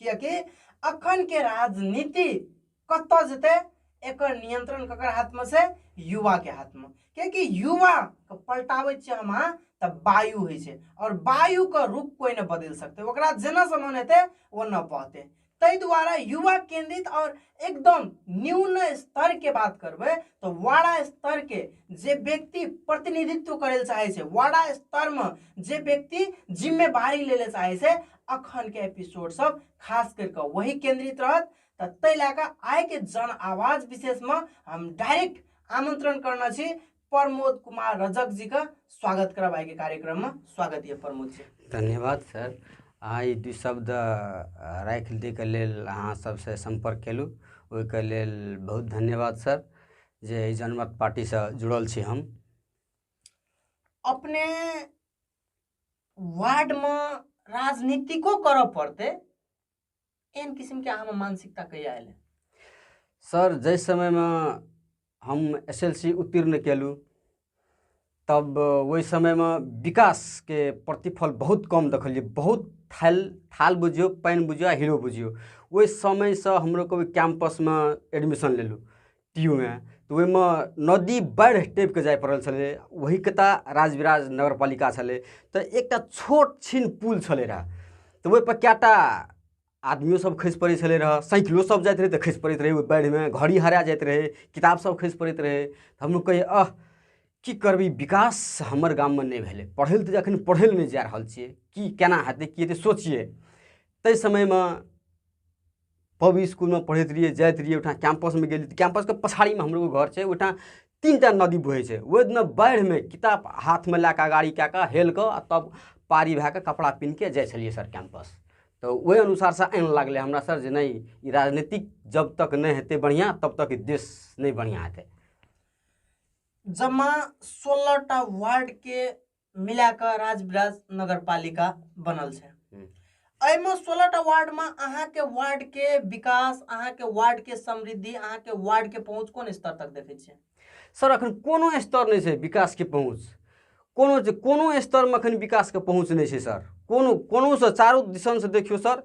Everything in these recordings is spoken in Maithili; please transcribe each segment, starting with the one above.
किएकि अखनके राजनीति कतऽ जेतै एकर नियंत्रण ककर हाथमे छै युवाके हाथमे किएकि युवाके पलटाबै छियै हम अहाँ तऽ वायु होइ छै आओर वायुके रूप कोइ नहि बदलि सकतै ओकरा जेना समान हेतै ओना बहतै ताहि दुआरे युवा केंद्रित आओर एकदम न्यून स्तर के बात करबे तो वाड़ा स्तर के जे व्यक्ति प्रतिनिधित्व करे चाहे से वाड़ा स्तर में जे व्यक्ति जिम्मेवारी ले चाहे से अखन के एपिसोड सब खास करके वही केंद्रित रहत तो तै लैके आय के जन आवाज विशेष में हम डायरेक्ट आमंत्रण करना छी प्रमोद कुमार रजक जी का स्वागत करब आइ के कार्यक्रम में स्वागत यऽ प्रमोद जी धन्यवाद सर अहाँ ई दू शब्द अ, राखि दैके लेल अहाँ सबसे सम्पर्क केलहुँ ओहिके लेल बहुत धन्यवाद सर जे एहि जनमत पार्टीसँ जुड़ल छी हम अपने वार्ड में राजनीतिको करऽ पड़ते एहन किसिमके अहाँमे मानसिकता कहिया एलै सर जाहि समयमे हम एस एल सी उत्तीर्ण केलहुँ तब ओहि समयमे विकासके प्रतिफल बहुत कम देखलिए बहुत थाल थाल बुझियो पानि बुझियो आ हीरो बुझियो ओहि समयसँ हमरो कभी कैंपसमे एडमिशन लेलहुँ टीयूमे तऽ ओहिमे नदी बाढ़ि टपि कऽ जाय पड़ल छलै ओहि कता राजविराज नगर पालिका छलै तऽ एकटा छोट छिन पुल छलै रहए तऽ ओहिपर कए टा आदमियो सब खसि पड़ै छलै रहए साइकिलो सब जाइत रहै तऽ खसि पड़ैत रहै ओहि बाढ़िमे घड़ी हरा जाइत रहै किताब सब खसि पड़ैत रहै तऽ हमहूँ कहियै अह की करबै विकास हमर गाममे नहि भेलै पढ़ै लए तऽ एखन पढ़ै लए नहि जा रहल छियै की केना हेतै की हेतै सोचियै ताहि समयमे पब स्कूलमे पढ़ैत रहियै जाइत रहियै ओहिठाम कैंपसमे गेली तऽ कैंपसके पछाड़ीमे हमरो एगो घर छै ओहिठाम तीन टा नदी बहै छै ओहि दिना बाढ़िमे किताब हाथमे लए कऽ गाड़ी कए कऽ हेल कऽ आ तब पारी भए कऽ कपड़ा पिन्ह कऽ जाइ छलियै सर कैंपस तऽ ओहि अनुसारसँ आनि लागलै हमरा सर जे नहि ई राजनीतिक जब तक नहि हेतै बढ़िआँ तब तक ई देश नहि बढ़िआँ हेतै जमा सोलह टा वार्ड के मिला कऽ राजविराज नगर पालिका बनल छै हम्म। एहिमे सोलह टा वार्डमे अहाँके वार्डके विकास अहाँके वार्डके समृद्धि अहाँके वार्डके पहुँच कोन स्तर तक देखै छियै सर अखन कोनो स्तर नहि छै विकासके पहुँच कोनो जे कोनो स्तरमे अखन विकासके पहुँच नहि छै सर कोनो कोनोसँ चारू दिशनसँ देखियौ सर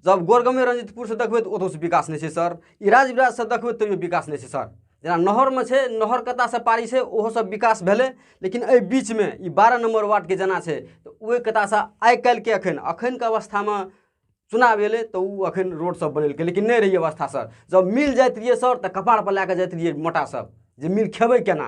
जब गोरगमे रंजितपुरसँ देखबै तऽ ओतौसँ विकास नहि छै सर ई राजविराजसँ देखबै तैयो विकास नहि छै सर जेना नहरमे छै नहर कतासँ पारी छै ओहो सब विकास भेलै लेकिन एहि बीचमे ई बारह नम्बर वार्डके जेना छै तऽ ओहि कतासँ आइ काल्हिके अखन अखनके अवस्थामे चुनाव एलै तऽ ओ अखन रोड सब बनेलकै लेकिन नहि रहिए अवस्था सर जब मिल जाइत रहिए सर तऽ कपार पर लए कऽ जाइत रहिए मोटा सब जे मिल खेबै केना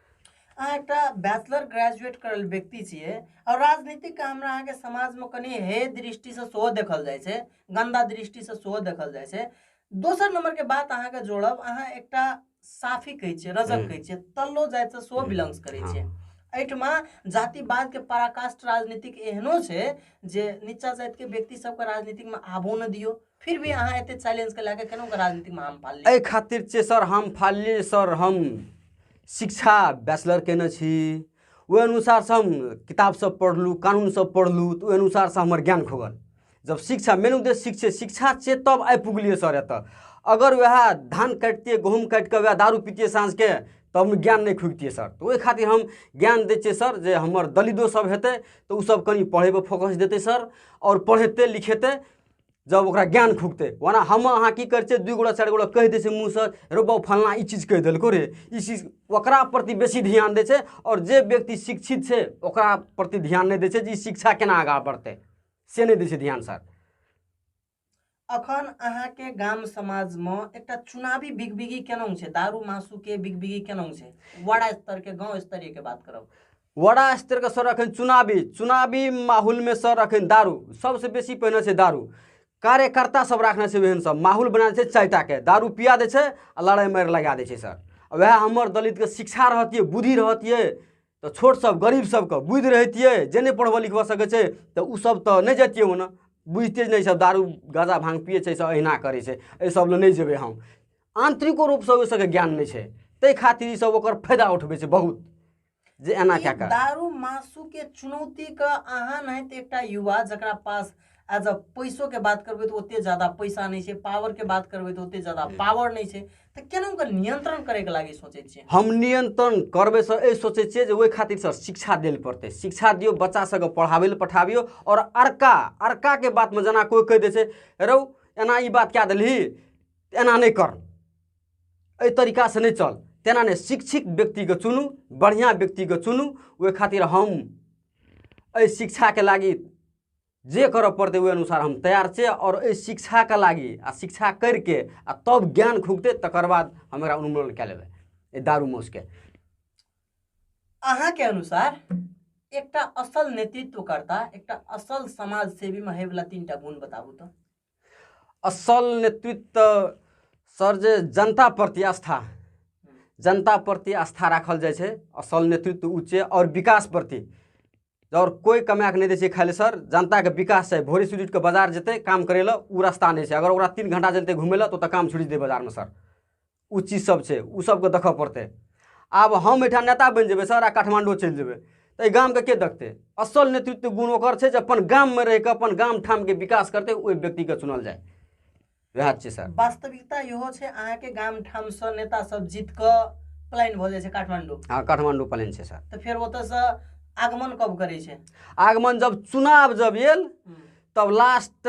अहाँ एकटा बैचलर ग्रेजुएट करल व्यक्ति छियै आओर राजनीतिकके हमरा अहाँके समाजमे कनि हे दृष्टिसँ सेहो देखल जाइ छै गन्दा दृष्टिसँ सेहो देखल जाइ छै दोसर नम्बरके बात अहाँके जोड़ब अहाँ एकटा साफी कहै छियै रजक हम्म। कहै छियै तल्लो जातिसँ सेहो बिलोंग्स हम्म। करै छियै हाँ। एहिठमा जातिवादके पराकाष्ठ राजनीतिक एहनो छै जे नीचा जातिके व्यक्ति सबके राजनीतिकमे आबो नहि दियौ फिर भी अहाँ एते चैलेंज के लेके केना राजनीति में हम फाल एहि खातिर छै सर हम फाल सर हम शिक्षा बैचलर केने छी ओहि अनुसारसँ हम किताब सब पढ़लहुँ कानून सब पढ़लहुँ तऽ ओहि अनुसारसँ हमर ज्ञान खोगल जब शिक्षा मेन उद्देश्य शिक्षा शिक्षा छै तब आबि पुगलियै सर एतऽ अगर वएह धान काटितियै गहूँम काटिके वएह दारू पीतियै साँझके तऽ हम ज्ञान नहि खुबितियै सर तऽ ओहि खातिर हम ज्ञान दै छियै सर जे हमर दलिदो सब हेतै तऽ ओ सब कनि पढ़ैपर फोकस देतै सर आओर पढ़ेतै लिखेतै जब ओकरा ज्ञान खुकतै ओना हम अहाँ की करै छियै दू गोटा चारि गोटा कहि दै छै मुँहसँ रो बाबू फलना ई चीज कहि देलको रे ई चीज ओकरा प्रति बेसी ध्यान दै छै आओर जे व्यक्ति शिक्षित छै ओकरा प्रति ध्यान नहि दै छै जे ई शिक्षा केना आगाँ बढ़तै से नहि दै छै ध्यान सर अखन अहाँके गाम समाजमे एकटा चुनावी बिगबिगी केना छै दारू मासुके बिगबिगी केना छै वडा स्तरके गाँव स्तरीयके बात करब वडा स्तरका सर अखन चुनावी चुनावी माहौलमे सर अखन दारू सबसँ बेसी पहिने छै दारू कार्यकर्ता सब राखने छै ओहन सब माहौल बना छै चारिटाके दारू पिया दै छै आ लड़ाइ मारि लगा दै छै सर वएह हमर दलितके शिक्षा रहतियै बुद्धि रहतियै तऽ छोट सब गरीब सबके बुद्धि रहतियै जे नहि पढ़बऽ लिखबऽ सकै छै तऽ ओ सब तऽ नहि जैतियै ओना बुझिते नहि सब दारू गाजा भांग पियै छै सब अहिना करै छै एहि सब लए नहि जेबै हम आंतरिको रूपसँ ओहि सबके ज्ञान नहि छै ताहि खातिर ई सब ओकर फायदा उठबै छै बहुत जे एना कए कऽ दारू मासु के चुनौती के अहाँ नहि तऽ एकटा युवा जकरा पास एज अ पैसो के बात करबै तऽ ओते ज्यादा पैसा नहि छै पावर के बात करबै तऽ ओते ज्यादा पावर नहि छै तऽ केना ओकर नियंत्रण करे के लागी सोचै छियै हम नियंत्रण करबै सर एहि सोचै छियै जे ओहि खातिर सर शिक्षा देल पड़तै शिक्षा दियौ बच्चा सबके पढ़ाबै लए पठाबियौ आओर अड़का अड़का के बात मे जेना कोइ कहि दै छै रौ एना ई बात कए देलही एना नहि कर एहि तरीकासँ नहि चल तेना नहि शिक्षित व्यक्तिके चुनू बढ़िआँ व्यक्तिके चुनू ओहि खातिर हम एहि शिक्षाके लागि जे करऽ पड़तै ओहि अनुसार हम तैयार छै आओर एहि शिक्षाके लागि आ शिक्षा करिके आ तब ज्ञान खुगतै तकर बाद हम एकरा उन्मूलन कए लेबै एहि दारू मौसके अहाँके अनुसार एकटा असल नेतृत्वकर्ता एकटा असल समाजसेवीमे होइवला तीन टा गुण बताबू तऽ असल नेतृत्व सर जे जनता प्रति आस्था जनता प्रति आस्था राखल जाइ छै असल नेतृत्व ऊ छै आओर विकास प्रति आओर कोइ कमाए कऽ नहि दै छै खाइ लए सर जनताके विकास छै भोरे सुति उठिके बाजार जेतै काम करै लए ओ रास्ता नहि छै अगर ओकरा तीन घण्टा चलतै घुमै लए तऽ ओतऽ काम छुटि जेतै बाजारमे सर ओ चीज सब छै ओ सबके देखऽ पड़तै आब हम एहिठाम नेता बनि जेबै सर आ काठमांडू चलि जेबै तऽ एहि गामके के देखतै असल नेतृत्व गुण ओकर छै जे अपन गाममे रहिके अपन गाम ठामके विकास करतै ओहि व्यक्तिके चुनल जाय वएह छै सर वास्तविकता इहो छै अहाँके गाम ठामसँ नेता सब जीत कऽ पलायन भऽ जाइ छै काठमांडू हँ काठमांडू प्लान छै सर तऽ फेर ओतऽसँ आगमन कब करै छै आगमन जब चुनाव जब आयल तब लास्ट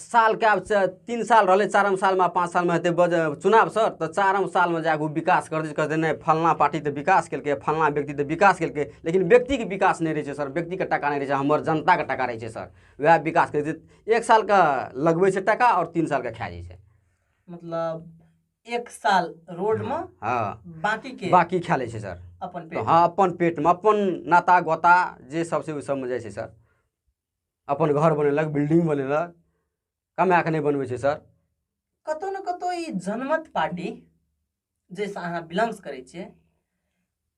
सालके आब से तीन साल रहलै चारम सालमे पाँच सालमे हेतै बज चुनाव सर तऽ चारम सालमे जा कऽ ओ विकास करतै जे कहतै नहि फलना पार्टी तऽ विकास केलकै फलना व्यक्ति तऽ विकास केलकै लेकिन व्यक्तिके विकास नहि रहै छै सर व्यक्तिके टाका नहि रहै छै हमर जनताके टाका रहै छै सर उएह विकास करै छै एक सालके लगबै छै टाका आओर तीन सालके खा जाइ छै मतलब एक साल रोडमे हँ बाँकीके बाकी खा लै छै सर अपन तऽ पेट हँ अपन पेटमे अपन नाता गोता जे सब छै ओहि सबमे जाइ छै सर अपन घर बनेलक बिल्डिंग बनेलक कमाए कऽ नहि बनबै छै सर कतौ ने कतौ ई जनमत पार्टी जाहिसँ अहाँ बिलोंग्स करै छियै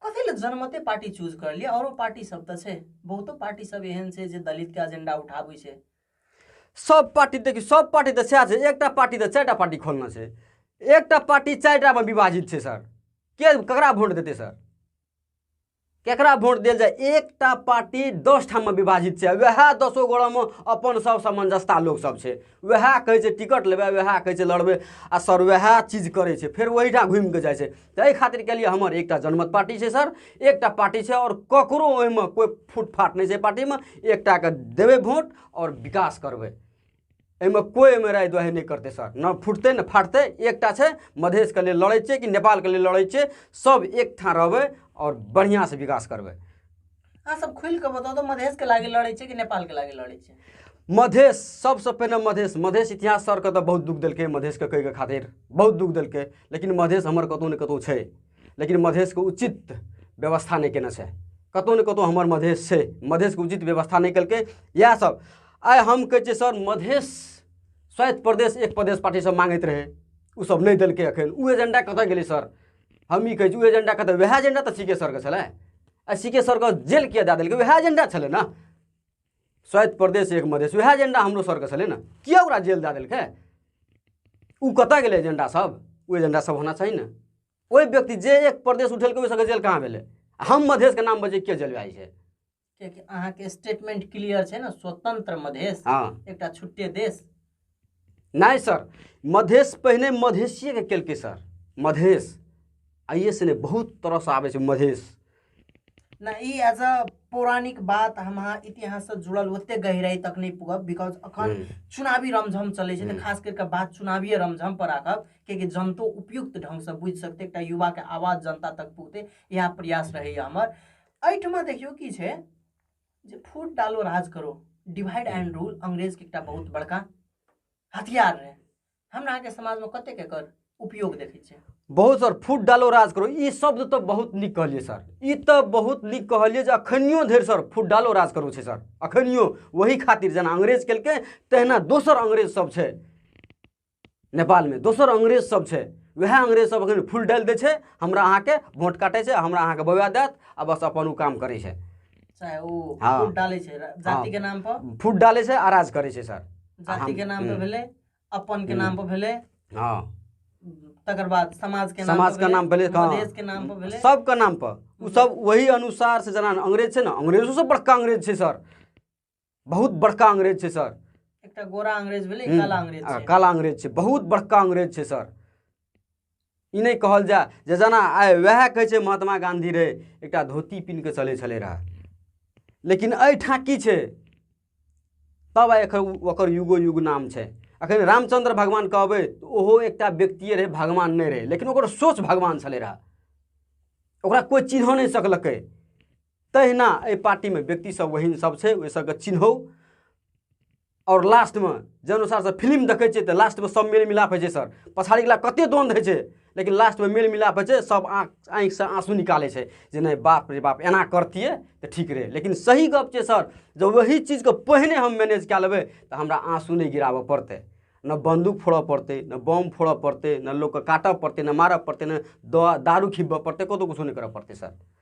कथी लए जनमते पार्टी चूज कर लिअ आओरो पार्टी सब तऽ छै बहुतो पार्टी सब एहन छै जे दलित के एजेंडा उठाबै छै सब पार्टी देखियौ सब पार्टी तऽ सएह छै एकटा पार्टी तऽ चारिटा पार्टी खोलना छै एकटा पार्टी चारिटामे विभाजित छै सर के ककरा वोट देतै सर केकरा वोट देल जाए एकटा पार्टी दस ठाममे विभाजित छै वएह दसो गोड़ामे अपन सब समंजसता लोक सब छै वएह कहै छै टिकट लेबै वएह कहै छै लड़बै आ सर वएह चीज करै छै फेर ओहिठाम घुमि कऽ जाइ छै तऽ एहि खातिर के लिए हमर एकटा जनमत पार्टी छै सर एकटा पार्टी छै आओर ककरो ओहिमे कोइ फुटफाट नहि छै पार्टीमे एकटाके देबै वोट आओर विकास करबै एहिमे कोइ एहिमे राय दुआहे नहि करतै सर न फुटतै न फाटतै एकटा छै मधेशके लेल लड़ै छियै कि नेपालके लेल लड़ै छियै सब एक ठाँ रहबै आओर बढ़िआँसँ विकास करबै अहाँ सब खुलि कऽ बताउ तऽ मधेशके लागि लड़ै छियै कि नेपालके लागि लड़ै छियै मधेश सबसँ पहिने मधेश मधेश इतिहास सरके तऽ बहुत दुःख देलकै मधेशके कहैके खातिर बहुत दुःख देलकै लेकिन मधेश हमर कतहु ने कतहु छै लेकिन मधेशके उचित व्यवस्था नहि केने छै कतहु ने कतहु हमर मधेश छै मधेशके उचित व्यवस्था नहि केलकै इएहसभ आइ हम कहै छियै सर मधेश स्वायत्त प्रदेश एक प्रदेश पार्टी सब मांगैत रहे ओ सब नहीं दिल्क अखन ओ एजेंडा कत गए सर हम ई कहै ओ एजेंडा कत वह एजेंडा तो सी के सर के छलै आ सी के सर के जेल किया दे दिल्क वह एजेंडा छलै ने स्वायत्त प्रदेश एक मधेश वह एजेंडा हमरो सर के छलै ने किया ओकरा जेल दे दिल्क ओ कत गए एजेंडा सब ओ एजेंडा सब होना चाहिए ने ओहि व्यक्ति जे एक प्रदेश उठेलकै ओहि सबके जेल कहाँ भेलै हम मधेशके नाम बजे किया जेल जाइ छै कियाकि अहाँके स्टेटमेंट क्लियर छै ने स्वतंत्र मधेश हँ एकटा छुट्टे देश नहि सर मधेश पहिने मधेशिएके केलकै सर मधेश आइए से नहि बहुत तरहसँ आबै छै मधेश नहि ई एज अ पौराणिक बात हम अहाँ इतिहाससँ जुड़ल ओतेक गहिराइ तक नहि पुगब बिकॉज अखन हम्म। चुनावी रमझम चलै छै तऽ खास करि कऽ बात चुनावीय रमझम पर राखब कियाकि जनतो उपयुक्त ढङ्गसँ बुझि सकतै एकटा युवाके आवाज जनता तक पुगतै इएह प्रयास रहैए हमर एहिठमा देखियौ की छै जे फूट डालो राज करो डिवाइड एंड रूल अंग्रेजके एकटा बहुत बड़का हथियार रहै हमरा अहाँके समाजमे कतेक एकर उपयोग देखै छियै बहुत सर फूट डालो राज करो ई शब्द तऽ बहुत नीक कहलियै सर ई तऽ बहुत नीक कहलियै जे अखनियो धरि सर फूट डालो राज करो छै सर अखनियो वही खातिर जेना अंग्रेज केलकै तहिना दोसर अंग्रेज सब छै नेपालमे दोसर अंग्रेज सब छै वएह अंग्रेज सब अखन फूल डालि दै छै हमरा अहाँके वोट काटै छै हमरा अहाँके बौआ देत आ बस अपन ओ काम करै छै चाहे ओ हाँ। फूट डाले छै रा- जाति के नाम पर फूट डालै छै आ राज करै छै सर जाति के नाम पर भेलै अपन के नाम पर भेलै हँ तकर बाद समाज के नाम समाज पर के नाम भेलै, हाँ। प्रदेश के नाम पर भेलै सबके नाम पर ओ सब वही अनुसार से जेना अंग्रेज छै ने अंग्रेजो सब बड़का अंग्रेज छै सर बहुत बड़का अंग्रेज छै सर एकटा गोरा अंग्रेज भेलै हम्म, काला अंग्रेज आ, छै काला अंग्रेज छै बहुत बड़का अंग्रेज छै सर ई नहि कहल जाय जे जेना आइ वएह कहै छै महात्मा गांधी रहै एकटा धोती पिन्ह कऽ चलै छलै रहए लेकिन एहिठाम की छै तब आइ एखन उ- ओकर युगो युग नाम छै अखन रामचंद्र भगवान कहबै तऽ ओहो एकटा व्यक्तिए रहै भगवान नहि रहै लेकिन ओकर सोच भगवान छलै रहए ओकरा कोइ चिन्ह नहि सकलकै तहिना एहि पार्टीमे व्यक्तिसभ ओहन सभ छै ओहि सभके चिन्हौ आओर लास्टमे जाहि अनुसारसँ फिल्म देखै छियै तऽ लास्टमे सभ मेल मिलाप होइ छै सर पछाड़ीवला कतेक द्वन्द्व होइ छै लेकिन लास्टमे मेल मिलाप होइ छै सभ आँख आँखिसँ आँसू निकालै छै जे नहि बाप रे बाप एना करतियै तऽ ठीक रहै लेकिन सही गप छै सर जँ वही चीजके पहिने हम मैनेज कए लेबै तऽ हमरा आँसू नहि गिराबऽ पड़तै ने बन्दूक फोड़ऽ पड़तै ने बम फोड़ऽ पड़तै ने लोकके काटऽ पड़तै ने मारऽ पड़तै ने दारू खिब्बऽ पड़तै कतहु किछो नहि करऽ पड़तै सर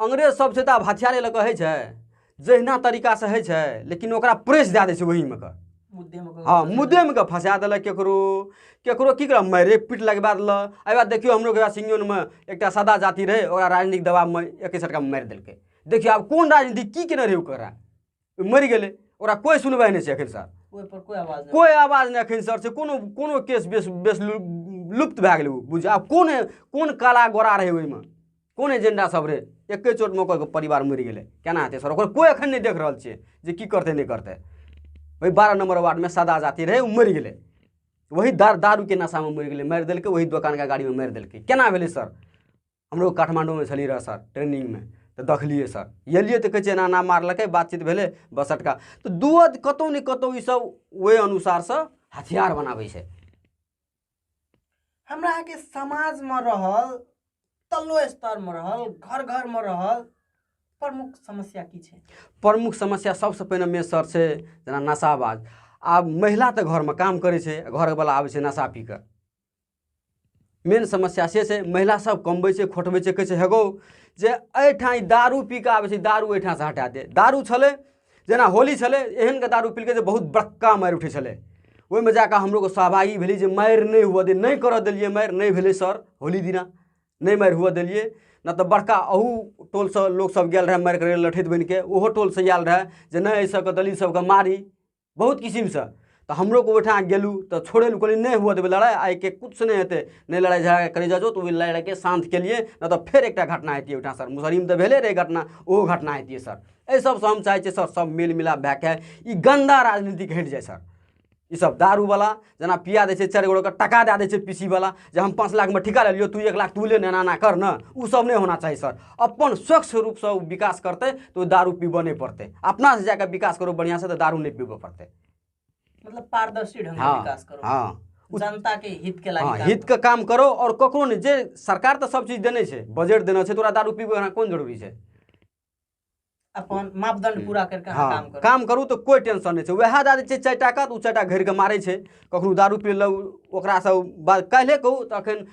अंग्रेज सब छै तऽ आब हथियारे लऽ कऽ होइ छै जहिना तरीकासँ होइ छै लेकिन ओकरा प्रेस दए दै छै ओहिमे कऽ हँ मुद्देमे कऽ फँसा देलक केकरो केकरो की करब मारे पीट लगबा देलक एहि बाद देखियौ हमरो के सिंगनमे एकटा सादा जाति रहै ओकरा राजनीतिक दबावमे एक सटका मारि देलकै देखियौ आब कोन राजनीति की केने रहै ओकरा मरि गेलै ओकरा कोइ सुनवाइ नहि छै एखन सर कोइ आवाज नहि एखन सर से कोनो कोनो केस बेस बेस लुप्त भए गेलै बुझ आब कोन कोन काला गोरा रहै ओहिमे कोन एजेंडा सब रहै एके चोटमे ओकर परिवार मरि गेलै केना हेतै सर ओकर कोइ एखन नहि देख रहल छियै जे की करतै नहि करतै ओहि बारह नंबर वार्डमे सदा जाति रहै ओ मरि गेलै वही दार दारूके नशामे मरि गेलै मारि देलकै वही दोकानके गाड़ीमे मारि देलकै केना भेलै सर हमरो काठमाण्डूमे छलियै रहए सर ट्रेनिंगमे तऽ देखलियै सर एलियै तऽ कहै छै एना एना मारलकै बातचीत भेलै बस अटका तऽ दुओ कतहु ने कतहु ईसभ ओहि अनुसारसँ हथियार बनाबै छै हमरा अहाँके समाजमे रहल तल्लो स्तरमे रहल घर घरमे रहल प्रमुख समस्या की छै प्रमुख समस्या सबसँ पहिने मे सर छै जेना नशाबाज आब महिला तऽ घरमे काम करै छै घरवला आबै छै नशा पी कऽ मेन समस्या से छै महिला सब कमबै छै खोटबै छै कहै छै हेगो जे एहिठाम ई दारू पी कऽ आबै छै दारू एहिठामसँ हटा दे दारू छलै जेना होली छलै एहनके दारू पीलकै जे बहुत बड़का मारि उठै छलै ओहिमे जा कऽ हमरोके सहभागी भेली जे मारि नहि हुअ दे नहि करऽ देलियै मारि नहि भेलै सर होली दिना नहि मारि हुअ देलियै नहि तऽ बड़का अहू टोलसँ लोकसभ गेल रहए मारि करै लठैत बनि कऽ ओहो टोलसँ आयल रहए जे नहि एहि सभके दलित सभके मारी बहुत किसिमसँ तऽ हमरो को ओहिठाम गेलहुँ तऽ छोड़ै लए कहलियै नहि हुअ देबै लड़ाइ आइके किछु नहि हेतै नहि लड़ाइ झगड़ा करै जाओ तऽ ओहि लड़ाइके शान्त केलियै नहि तऽ फेर एकटा घटना हेतियै ओहिठाम सर मुसहरीमे तऽ भेले रहै घटना ओहो घटना हेतियै सर एहि सबसँ हम चाहै छियै सर सब मेल मिलाप भए कऽ ई गन्दा राजनीतिक हटि जाइ सर ई सब दारूवला जेना पिया दै छै चारि गो के टका दए दै छै पीसी वाला जे हम पाँच लाखमे ठिका लेलियो तू एक लाख तू ले एना एना कर ने ओ सब नहि होना चाही सर अपन स्वच्छ रूपसँ ओ विकास करतै तऽ ओ दारू पीबऽ नहि पड़तै अपनासँ जाकऽ विकास करू बढ़िआँसँ तऽ दारू नहि पीबऽ पड़तै मतलब पारदर्शी ढंग हाँ, विकास करो हाँ जनता के हित के लागी हाँ, हित के काम करो और ककरो ने जे सरकार तो सब चीज देने छै बजट देना छै तोरा दारू पीबे कोन जरूरी छै अपन मापदंड हम्म। पूरा करके हाँ, काम करू काम करू तो कोई टेंशन नहीं छै वएह दए दै छै चारि टाका तऽ ओ चारि टा घेर के मारै छै ककरो दारू पी लेलक ओकरासँ बात काल्हे कहू तऽ अखन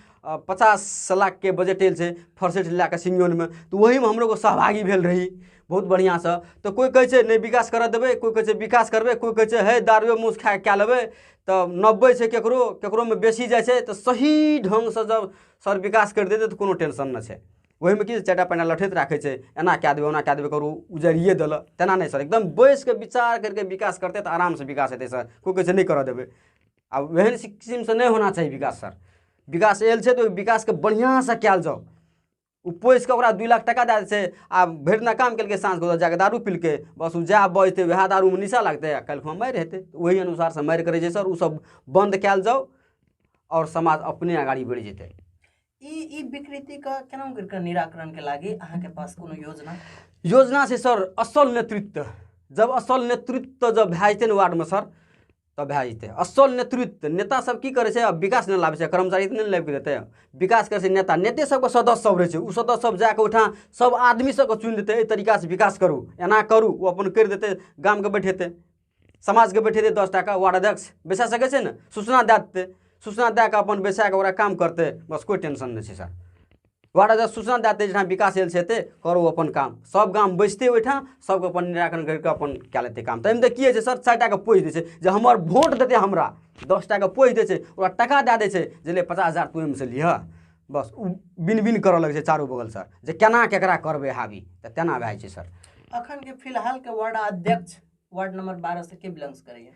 पचास लाखके बजट आयल छै फर्सेट लए कऽ सिंगोनमे तऽ ओहीमे हमरो सहभागी भेल रही बहुत बढ़िआँसँ तऽ कोइ कहै छै नहि विकास करऽ देबै कोइ कहै छै विकास करबै कोइ कहै छै हे दारुए मूस खा कए लेबै तऽ नब्बै छै ककरो ककरोमे बेसी जाइ छै तऽ सही ढङ्गसँ जब सर विकास करि देतै तऽ कोनो टेंशन नहि छै ओहिमे की चारिटा पैना लठैत राखै छै एना कए देबै ओना कए देबै करू उजरिए देलक तेना नहि सर एकदम बैस कऽ विचार करि कऽ विकास करतै तऽ आरामसँ विकास हेतै सर कोइ कहै छै नहि करऽ देबै आ ओहन किसिमसँ नहि होना चाही विकास सर विकास आयल छै तऽ ओहि विकासके बढ़िआँसँ कयल जाउ ओ पोसि कऽ ओकरा दू लाख टाका दए दै छै आ भरि दिना काम केलकै साँझ गोदर जाकऽ दारू पिलकै बस ओ जएह बजतै वएह दारूमे निशा लागतै आ काल्हि मारि हेतै ओहि अनुसारसँ मारि करै छै सर ओसभ बन्द कयल जाउ आओर समाज अपने अगाड़ी बढ़ि जेतै ई ई विकृतिके केना करिके निराकरणके लागि अहाँके पास कोनो योजना योजना छै सर असल नेतृत्व जब असल नेतृत्व जब भए जेतै ने वार्डमे सर तब भए जेतै असल नेतृत्व नेता सब की करै छै विकास नहि लाबै छै कर्मचारी तऽ नहि लाबि देतै विकास करै छै नेता नेते सबके सदस्य सब रहै छै ओ सदस्य सब जाके ओहिठाम सब आदमी सबके चुनि देतै एहि तरीकासँ विकास करू एना करू ओ अपन करि देतै गामके बैठेतै समाजके बैठेतै दस टाका वार्ड अध्यक्ष बैसा सकै छै ने सूचना दए देतै सूचना दए कऽ अपन बैसा कऽ ओकरा काम करतै बस कोइ टेंशन नहि छै सर वार्ड अध्यक्ष सूचना दए देतै जहाँ विकास एल छै करू अपन काम सब गाम बैसतै ओहिठाम सबके अपन निराकरण करि कऽ अपन कए लेतै काम तऽ एहिमे तऽ की होइ छै सर चारि टाके पोसि दै छै जे हमर वोट देतै हमरा दस टाके पोसि दै छै ओकरा टाका दए दै छै जे ले पचास हजार तू एहिमे से लिहऽ बस ओ बिन बिन करऽ लगै छै चारू बगल सर जे केना केकरा करबै हावी तऽ तेना भए जाइ छै सर अखन के फिलहाल के वार्ड अध्यक्ष वार्ड नंबर बारह से के बिलोंग्स करैया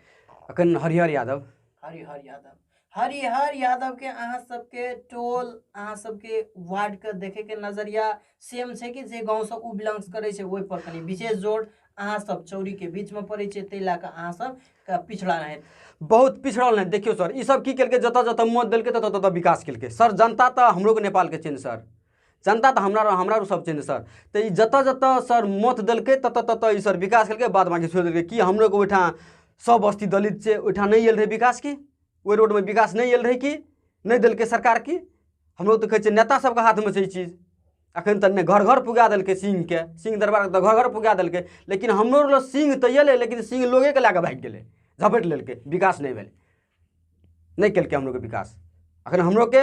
अखन हरिहर यादव हरिहर यादव हरिहर यादव के अहाँ सबके टोल अहाँ सबके वार्ड के देखे के नजरिया सेम छै कि जे गाँव से ओ बिलोंग्स करै छै ओहि पर कनी विशेष जोर अहाँ सब चौरी के बीच में पड़ै छै ताहि लए कऽ अहाँ सब के पिछड़ा रहै बहुत पिछड़ल नहि देखियौ सर ई सब की केलकै जतऽ जतऽ मत देलकै ततऽ ततऽ विकास केलकै सर जनता तऽ हमरो के नेपाल के छै ने सर जनता तऽ हमरा हमरा सब छै ने सर तऽ ई जतऽ जतऽ सर मत देलकै ततऽ ततऽ ई सर विकास केलकै बाद बाकी छोड़ि देलकै कि हमरो के ओहिठाम सब बस्ती दलित छै ओहिठाम नहि आयल रहै विकास की ओहि रोडमे विकास नहि आयल रहै कि नहि देलकै सरकार की हमरो तऽ कहै छै नेता सबके हाथमे छै ई चीज अखन तक ने घर घर पुगा देलकै सिंहके सिंह दरबार तऽ घर घर पुगा देलकै लेकिन हमरो लग सिंह तऽ एलै लेकिन सिंह लोगेके लए कऽ भागि गेलै झपटि लेलकै विकास नहि भेलै नहि केलकै हमरोके विकास अखन हमरोके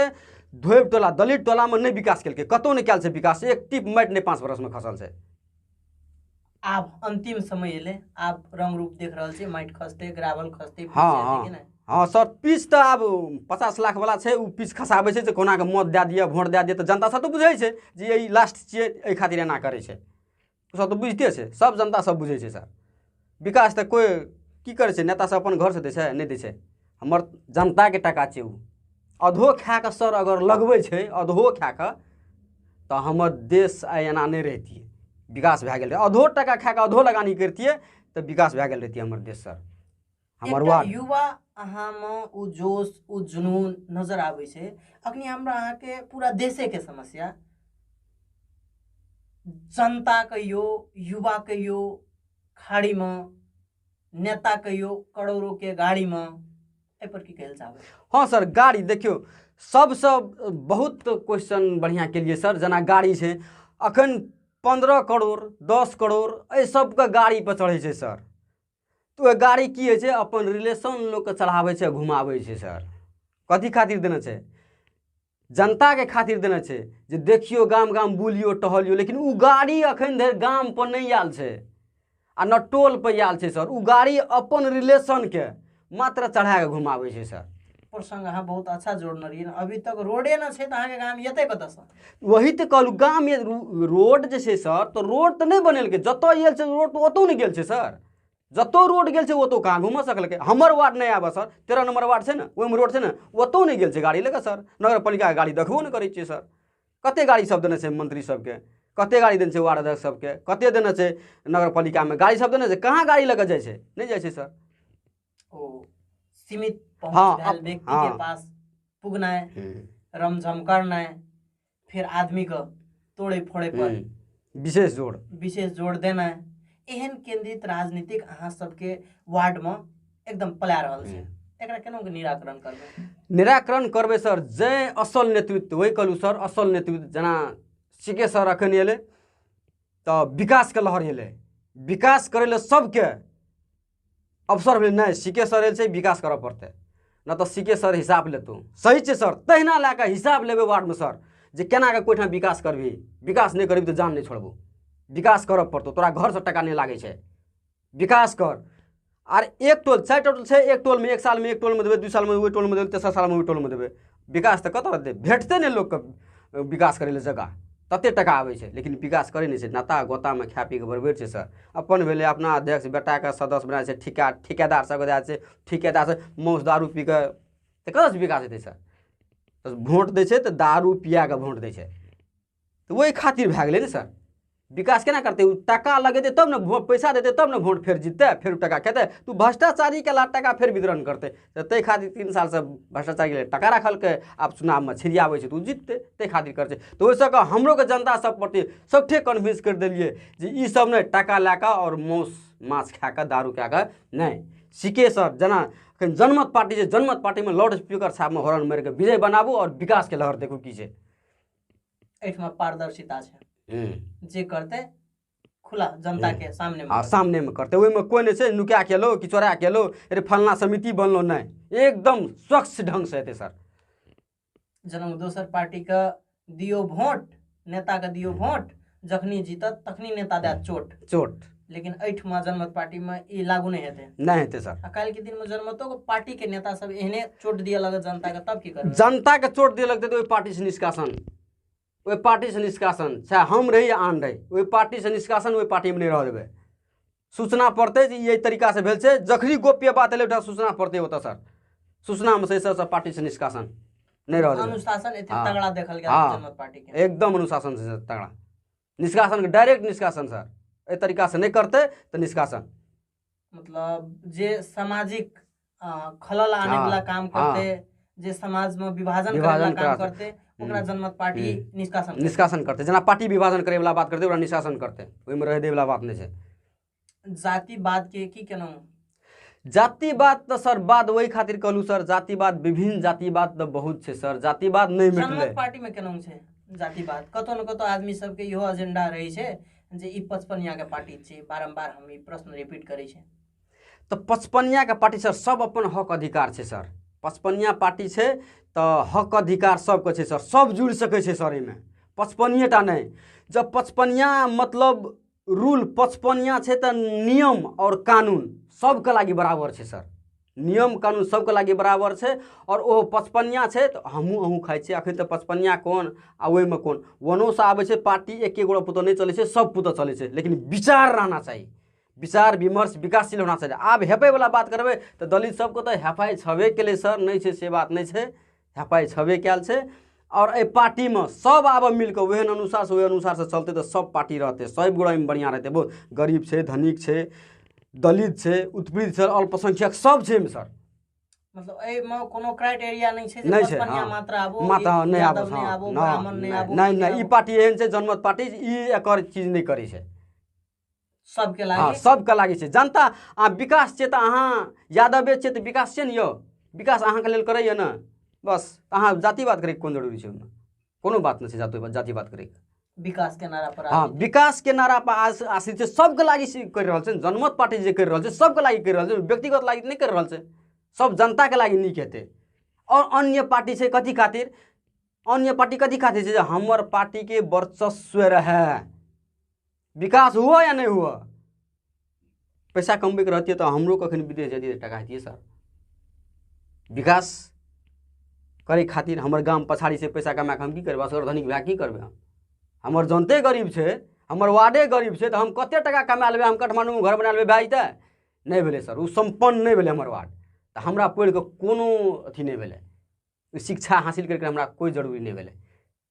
धोबि टोला दलित टोलामे नहि विकास केलकै कतहु नहि कयल छै विकास एक टिप माटि नहि पाँच बरसमे खसल छै आब अंतिम समय एलै आब रंग रूप देख रहल छियै माटि खसतै ग्रावल खसतै हँ हँ हँ सर पीस तऽ आब पचास लाख वाला छै ओ पीस खसाबै छै जे कोनाके मत दए दिअ भोट दए दिअ तऽ जनता सब तऽ बुझै छै जे ई लास्ट छियै एहि खातिर एना करै छै ओसभ तऽ बुझिते छै सभ जनता सभ बुझै छै सर विकास तऽ कोइ की करै छै नेता सभ अपन घरसँ दै छै नहि दै छै हमर जनताके टाका छै ओ अधो खा कऽ सर अगर लगबै छै अधो खा कऽ तऽ हमर देश आइ एना नहि रहितियै विकास भए गेल रहै अधो टाका खा कऽ अधो लगानी करितियै तऽ विकास भए गेल रहितियै हमर देश सर हमर एकटा वार्ड युवा अहाँमे ओ जोश ओ जुनून नजर आबै छै अखनी हमरा अहाँके पूरा देशेके समस्या जनता कहियो युवा कहियो खाड़ीमे नेता कहियो करोड़ोके गाड़ीमे एहिपर की कहै लए चाहबै हँ सर गाड़ी देखियौ सबसँ बहुत क्वेश्चन बढ़िआँ केलिए सर जेना गाड़ी छै अखन पन्द्रह करोड़ दस करोड़ एहि सबके गाड़ीपर चढ़ै छै सर तऽ ओहि गाड़ी की होइ छै अपन रिलेशन लोकके चढ़ाबै छै घुमाबै छै सर कथी खातिर देने छै जनताके खातिर देने छै जे देखियौ गाम गाम बुलियो टहलियो लेकिन ओ गाड़ी अखन धरि गाम पर नहि आयल छै आ न टोल पर आयल छै सर ओ गाड़ी अपन रिलेशनके मात्र चढ़ा कऽ घुमाबै छै सर प्रसंग अहाँ बहुत अच्छा जोड़ने रहियै अभी तक रोडे ना छै तऽ अहाँके गाम एतै कतऽसँ वही तऽ कहलहुँ गाम ये- रो- रोड जे छै सर तऽ रोड तऽ नहि बनेलकै जतऽ गेल छै रोड तऽ ओतौ नहि गेल छै सर जतौ रोड गेल छै ओतौ काम हुमऽ सकलकै हमर वार्ड नहि आबऽ सर तेरह नंबर वार्ड छै ने ओहिमे रोड छै ने ओतौ नहि गेल छै गाड़ी लऽ कऽ सर नगर पालिकाके गाड़ी देखबो नहि करै छियै सर कते गाड़ी सब देने छै मंत्री सबके कते गाड़ी देने छै वार्ड अध्यक्ष सबके कते देने छै नगर पालिकामे गाड़ी सब देने छै कहाँ गाड़ी लऽ कऽ जाइ छै नहि जाइ छै सर ओ सीमित पहुँच हाँ, रहल अप- व्यक्ति हाँ। के पास पुगनाय हम्म, रमझम करनाय फिर आदमी के तोड़े फोड़े पर हम्म, विशेष जोड़ विशेष जोड़ देनाय एहन केंद्रित राजनीतिक अहाँ सबके वार्ड में एकदम पला रहल छै एकरा केना के निराकरण करबै निराकरण करबै सर जय असल नेतृत्व वही कहलहुँ सर असल नेतृत्व जेना सी के सर एखन एलै तऽ विकासके लहर एलै विकास करै लए सभके अवसर भेलै नहि सी के सर एलसँ विकास करऽ पड़तै नहि तऽ सी के सर हिसाब लेतौ सही छै सर तहिना लए कऽ हिसाब लेबै वार्डमे सर जे केना कऽ कोइठाम विकास करबही विकास नहि करबही तऽ जान नहि छोड़बौ विकास करऽ पड़तौ तोरा घरसँ टाका नहि लागै छै विकास कर आर एक टोल चारि टोल छै एक टोलमे एक सालमे एक टोलमे देबै दू सालमे ओहि टोलमे देबै तेसर सालमे ओहि टोलमे देबै विकास तऽ कतऽ रहतै भेटतै नहि लोकके विकास करै लए जगह तते टाका आबै छै लेकिन विकास करै नहि छै नाता गोतामे खाए पी कऽ बरबैर छै सर अपन भेलै अपना अध्यक्ष बेटाके सदस्य बना छै ठिका ठिकेदार सबके दए छै ठिकेदार सब मौस दारू पी कऽ तऽ कतऽसँ विकास हेतै सर तऽ वोट दै छै तऽ दारू पिया कऽ वोट दै छै तऽ ओहि खातिर भए गेलै ने सर विकास केना करतै ओ टाका लगेतै तब ने वोट पैसा देतै तब ने वोट फेर जीततै फेर टाका खेतै तऽ ओ भ्रष्टाचारीके ला टाका फेर वितरण करतै तऽ ताहि खातिर तीन सालसँ भ्रष्टाचारीके लेल टाका रखलकै आब चुनावमे छिड़ियाबै छै तऽ ओ जीततै ताहि खातिर करतै तऽ ओहिसँ कऽ हमरोके जनता सब प्रति सबठे कन्विंस करि देलियै जे ई सब नहि टाका लए कऽ आओर मौस माछ खा कऽ दारू कए कऽ नहि सीके सर जेना एखन जनमत पार्टी छै जनमत पार्टीमे लाउड स्पीकर साहबमे हॉर्न मारि कऽ विजय बनाबू आओर विकासके लहर देखू की छै एहिठमा पारदर्शिता छै हम्म। जे करते खुला जनता के सामने में आ सामनेमे करतै ओहिमे कोइ नहि छै नुका के एलो कि चोरा के एलो अरे फलना समिति बनलो नहि एकदम स्वच्छ ढङ्गसँ हेतै सर जेना दोसर पार्टी के दियो वोट नेता के दियो वोट जखनी जीतत तखनी नेता दैत हम्म। चोट चोट लेकिन एहिठमा जनमत पार्टीमे ई लागू नहि हेतै नहि हेतै सर आ काल्हिके दिनमे जनमतोके पार्टीके नेता सब एहने चोट दिअ लगत जनताके तब की करबै जनताके चोट दिअ लगतै तऽ ओहि पार्टीसँ निष्कासन ओहि पार्टीसँ निष्कासन चाहे हम रही या आन रही ओहि पार्टीसँ निष्कासन ओहि पार्टीमे नहि रह देबै सूचना पड़तै जे ई एहि तरीकासँ भेल छै जखनी गोप्य बात एलै ओहिठाम सूचना पड़तै ओतऽ सर सूचनामे से सब पार्टीसँ निष्कासन नहि रहल अनुशासन एते हाँ। तगड़ा देखल गेल हाँ। जनमत पार्टी के एकदम अनुशासन से तगड़ा निष्कासन डायरेक्ट निष्कासन सर एहि तरीकासँ नहि करतै तऽ निष्कासन मतलब जे सामाजिक अ, खलल आने हाँ, वाला काम हाँ। करते जे समाज में विभाजन करे वाला विभाजन काम करा- करते ओकरा जनमत पार्टी निष्कासन करते। निष्कासन करते जेना पार्टी विभाजन करे वाला बात करते ओकरा निष्कासन करते ओहिमे रहे दे वाला बात नहि छै जातिवाद के की केना जातिवाद तऽ सर बाद ओहि खातिर कहलू सर जातिवाद विभिन्न जातिवाद तऽ बहुत छै सर जातिवाद नहि मिटलै जनमत पार्टी में केना छै जातिवाद कतौ न कतौ आदमी सबके इहो एजेंडा रहै छै जे ई पचपनिया के पार्टी छै बारम्बार हम ई प्रश्न रिपीट करै छै तऽ पचपनियाके पार्टी सर सब अपन हक अधिकार छै सर पचपनिया पार्टी छै तऽ हक अधिकार सबके छै सर सब जुड़ि सकै छै सर एहिमे पचपनिये टा नहि जब पचपनिया मतलब रूल पचपनिया छै तऽ नियम आओर कानून सबके लागि बराबर छै सर नियम कानून सबके लागि बराबर छै आओर ओहो पचपनिया छै तऽ हमहूँ अहूँ खाइ छियै अखन तऽ पचपनिया कोन आ ओहिमे कोन वनोसँ आबै छै पार्टी एके गोटा पुतऽ नहि चलै छै सब पुतऽ चलै छै लेकिन विचार रहना चाही विचार विमर्श विकासशील होना चाहिए आब हेपयवला बात करबै तऽ दलित सबके तऽ हेपाइ छबे केलै सर नहि छै से बात नहि छै हेपाइ छबे कयल छै आओर एहि पार्टीमे सब आबऽ मिलकऽ ओहन अनुसारसँ ओहि अनुसारसँ चलतै तऽ सब पार्टी रहतै सब गोड़ा एहिमे बढ़िआँ रहतै बहुत गरीब छै धनिक छै दलित छै उत्पीड़ित छै अल्पसंख्यक सब छै एहिमे सर मतलब एहिमे कोनो क्राइटेरिया नहि छै जे नहि बस छै, बढ़िया हँ। मात्र आबो माता एक नहि आबो यादव नहि हँ, आबो ना, ब्राह्मण नहि आबो नहि नहि ई पार्टी एहन छै जनमत पार्टी ई एकर चीज नहि करै छै सबके लागि हँ सबके लागि छै जनता आ विकास छै तऽ अहाँ यादवे छै तऽ विकास छै ने यौ विकास अहाँके लेल करैए ने बस अहाँ जातिवाद करैके कोन जरूरी छै ओहिमे कोनो बात नहि छै जाति जातिवाद करैके विकास के नारा पर हँ विकास के नारा पर आश्रित छै सबके लागि करि रहल छै जनमत पार्टी जे करि रहल छै सबके लागि करि रहल छै व्यक्तिगत लागि नहि करि रहल छै सब जनताके लागि नीक हेतै आओर अन्य पार्टी छै कथी खातिर अन्य पार्टी कथी खातिर छै जे हमर पार्टीके वर्चस्व रहए विकास हुअ या नहि हुअ पैसा कमबैके रहतियै तऽ हमरो कखन विदेश जैतियै टाका हेतियै सर विकास करै खातिर हमर गाम पछाड़ीसँ पैसा कमा कऽ हम की करबै असगर धनिक भए की करबै हम हमर जनते गरीब छै हमर वार्डे गरीब छै तऽ हम कतेक टाका कमा लेबै हम काठमाण्डूमे घर बना लेबै भए जेतै नहि भेलै सर ओ सम्पन्न नहि भेलै हमर वार्ड तऽ हमरा पढ़ि कऽ कोनो अथी नहि भेलै शिक्षा हासिल करिके हमरा कोइ जरूरी नहि भेलै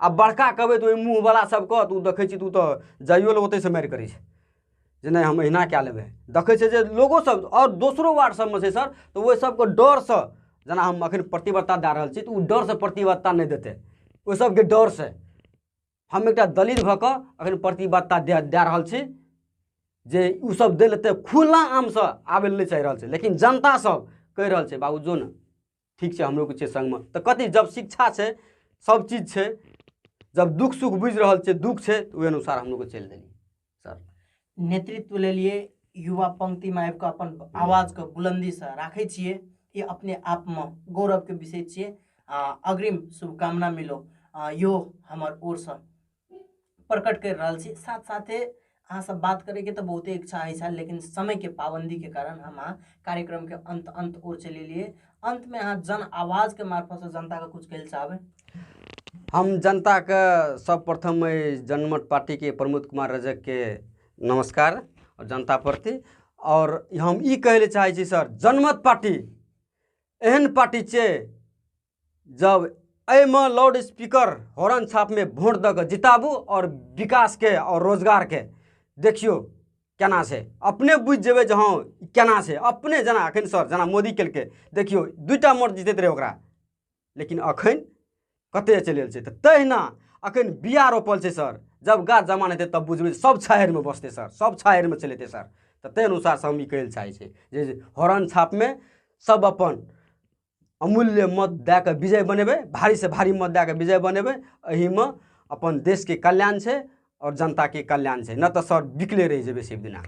आ बड़का कहबै तऽ ओहि मुँहवला सब कहत ओ देखै छी तू तऽ जाइयो लए ओतैसँ मारि करै छै जे नहि हम एहिना कए लेबै देखै छै जे लोगो सब आओर दोसरो वार्ड सबमे छै सर तऽ ओहि सबके डरसँ जेना हम अखन प्रतिबद्धता दए रहल छी तऽ ओ डरसँ प्रतिबद्धता नहि देतै ओहि सबके डरसँ हम एकटा दलित भऽ कऽ अखन प्रतिबद्धता दए दए रहल छी जे ओ सब दै लए तऽ खुला आमसँ आबै लए नहि चाहि रहल छै लेकिन जनता सब कहि रहल छै बाबू जो ने ठीक छै हमरो किछु सङ्गमे तऽ कथी जब शिक्षा छै सब चीज छै जब दुख सुख बुझि रहल छै दुख छै तऽ ओहि अनुसार हम लोग चलि देलियै सर नेतृत्व लेलिए युवा पंक्तिमे आबि कऽ अपन आवाजके बुलन्दीसँ राखै छियै ई अपने आपमे गौरवके विषय छियै आ अग्रिम शुभकामना मिलो यो हमर ओरसँ प्रकट कर रहा छी साथ साथे अहाँ सब बात करे के तो बहुत इच्छा है लेकिन समय के पाबंदी के कारण हम अहाँ कार्यक्रम के अंत अंत और चले लिए अंत में अहाँ जन आवाज के मार्फत से जनता का कुछ कह चाहबे हम जनता के सब प्रथम जनमत पार्टी के प्रमोद कुमार रजक के नमस्कार और जनता प्रति और हम ई कहे चाहे सर जनमत पार्टी एहन पार्टी छे जब एहिमे लाउड स्पीकर हॉर्न छापमे वोट दऽ कऽ जिताबू आओर विकासके आओर रोजगारके देखियौ केना छै अपने बुझि जेबै जे हँ केना छै अपने जेना एखन सर जेना मोदी केलकै देखियौ दूटा मोट जीतैत रहै ओकरा लेकिन अखन कतय चलि गेल छै तऽ तहिना अखन बिया रोपल छै सर जब गाछ जमा हेतै तब बुझबै सब छाहरिमे बसतै सर सब छाहरिमे चलि एतै सर तऽ ताहि अनुसारसँ हम ई कहै लए चाहै छी जे हरण छापमे सब अपन अमूल्य मत दए कऽ विजय बनेबै भारीसँ भारी मत दए कऽ विजय बनेबै एहिमे अपन देशके कल्याण छै आओर जनताके कल्याण छै नहि तऽ सर बिकले रहि जेबै से बिना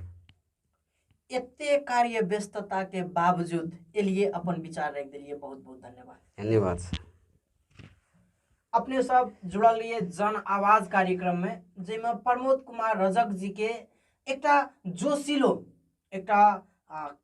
एते कार्य व्यस्तताके बावजूद एलिए अपन विचार राखि देलिए बहुत बहुत धन्यवाद धन्यवाद सर अपने सब जुड़ल रहिए जन आवाज कार्यक्रममे जाहिमे प्रमोद कुमार रजक जीके एकटा जोशीलो एकटा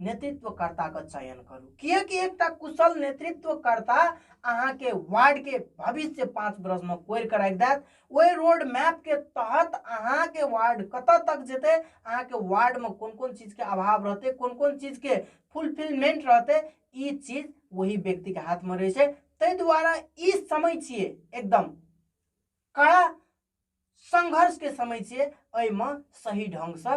नेतृत्वकर्ताके चयन करू किएकि एकटा कुशल नेतृत्वकर्ता अहाँके वार्डके भविष्य पाँच वर्षमे कोरि कऽ राखि देत ओहि रोड मैपके तहत अहाँके वार्ड कतऽ तक जेतै अहाँके वार्डमे कोन कोन चीजके अभाव रहतै कोन कोन चीजके फुलफिलमेंट रहतै ई चीज वही व्यक्तिके हाथमे रहै छै ताहि दुआरे ई समय छियै एकदम कड़ा संघर्षके समय छियै एहिमे सही ढङ्गसँ